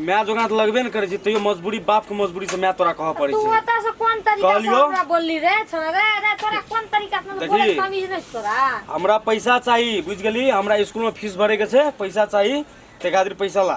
माय जोगा तऽ लगबे ने करै छै तैयो मजबूरी बाप के मजबूरी से माय तोरा कहऽ पड़ै तू छै ओतऽ से कोन तरीका से कहलियो? हमरा बोलली रे छोरा रे रे तोरा कोन तरीका से देखी। बोले तमीज नहीं तोरा हमरा पैसा चाही बुझ गेली हमरा स्कूल में फीस भरे के छै पैसा चाही ते खातिर पैसा ला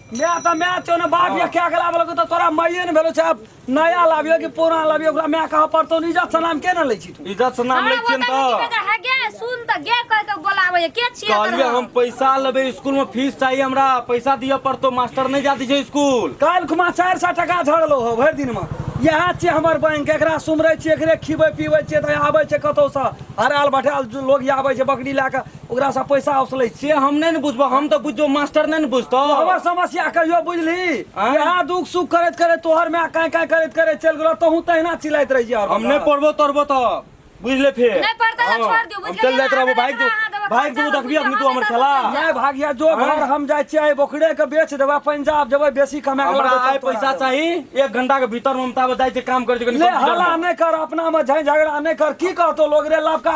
मैं तो मैं छो ना बाप ये क्या गला वाला को तो तोरा माइये ने भेलो छाप नया लाबियो कि पुराना लाबियो ओकरा मैं कहा पर तो इज्जत से नाम के ना ले छी तू इज्जत से नाम हमरा लै छियै ने गोतनी तऽ बेटा है गे सुन त गे कह के बोलावे के छिए कहलियै हम पैसा लेबै स्कूल में फीस चाहिए हमरा पैसा दिअ पड़तो मास्टर नहीं जाती छै स्कूल काल खुमा चारि सए टाका झड़लो हो भरि दिनमे इएह छियै हमर बैंक एकरा सुमरै छियै एकरे खिबै पिबै छियै तऽ आबै छै कतहुसँ हराल भटाल लोग आबै छै बकरी लए कऽ ओकरासँ पैसा उसलै से हम नहि ने बुझबौ हम तऽ बुझबौ मास्टर नहि ने बुझतौ हमर समस्या कहियो बुझली आँय? इएह दुख सुख करैत करैत तोहर माय काँय काँय करैत करैत चलि गेलो तहूँ तहिना चिल्लाइत रहियै हर हम वक्त। नहि पढ़बो तढ़बो तऽ बुझले फेर नहि पढ़तै तऽ हँ, छोड़ दियौ, बुझि हम चलि गेलियै, जाइत रहबो अहाँ भागि देबै, अहाँ देबै, जाउ भागि देबू खर्चा देखबी अखनी तू हमर खेला बुझि नहि भागिया जो आँय? घर हम जाइ छियै बोकरे के बेच देबै पंजाब जेबै बेसी कमा के हमरा लाबै आइ तब तोरा पैसा देबै। चाही एक घंटा के भीतर ममता बताइ छै काम कर छै कनि ले computer हल्ला मे। नहि कर अपना में झै झगड़ा नहि कर की कहतो लोग रे लबका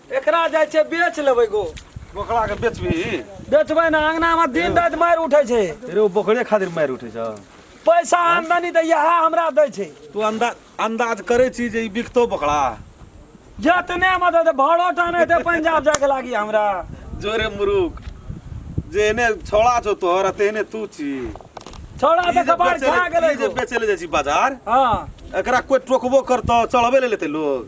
एकरा जाइ छै बेच लेबै गो बोकरा के बेचबी बेचबै ने अंगना में दिन रात मारि उठै छै रे ओ बोकरे खातिर मारि उठै छ पैसा आमदनी तऽ इएह हमरा दै छै तू अंदाज अंदाज करै छी जे ई बिकतो बोकरा जतने मदद भाड़ो टाने ते पंजाब जाके लागी हमरा जोरे मुरुख जे एने छोड़ा छौ तोहर आ तेहने तू छी छोड़ा ई तऽ जे कपार बेचै खा ले- गेलै ई जे गो। बेचै ले जाइ छी बाजार हँ एकरा कोई टोकबो करतो चढ़बे ले लेते लोग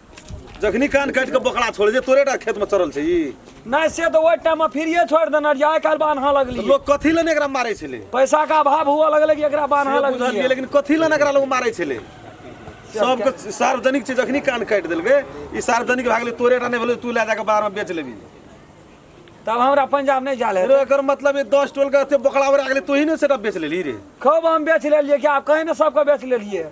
जखनी कान काटि के बोकरा छोड़े जे तोरे टा खेत में चरल छै ई नहीं से तो वही टाइम में फिरिए छोड़ देना जाए काल बान्हा लगली लोग कथी लने एकरा मारै छले पैसा का अभाव हुआ लगले कि एकरा बान्हा से बुझलियै लगली लेकिन कथी लने एकरा लोग मारै छले सबके सार्वजनिक छै जखनी कान काटि देलकै ई सार्वजनिक भए गेलै तोरे टा नहि भेलै तू लए जाके बाहर में बेच लेबी तब हमरा पंजाब नहीं जाले रे एकर मतलब ये दस टोल के एते बोकरा उड़ा गेलै तोही ने सेटा बेच लेली रे खूब हम बेच लेलिए कि आप कहीं ना सबके बेच लेलिए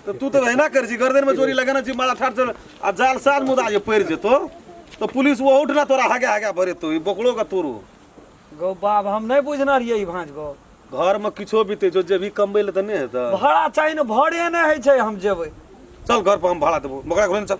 तऽ तू तऽ एहिना करै छी गर्दनमे चोरी लगेने छी मारा ठाठ चल आ जाल साल मुदा जे पड़ि जेतो तऽ पुलिस ओ उठना तोरा हागे हागे भरेतो ई बोकड़ो के तोरो गौ बाप हम नहि बुझने रहियै ई भाँज गौ घरमे किछो बीते जो जेबही कमबै लए तऽ नहि हेतै भाड़ा चाही ने भाड़े नहि होइ छै हम जेबै चल घर पर हम भाड़ा देबो बकरा घुरे चल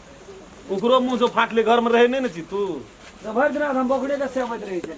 ओकरो मुँह जो फाटले घर में रहे नहीं न छी तू भरि दिन हम बोकरे के सेवैत रहे छै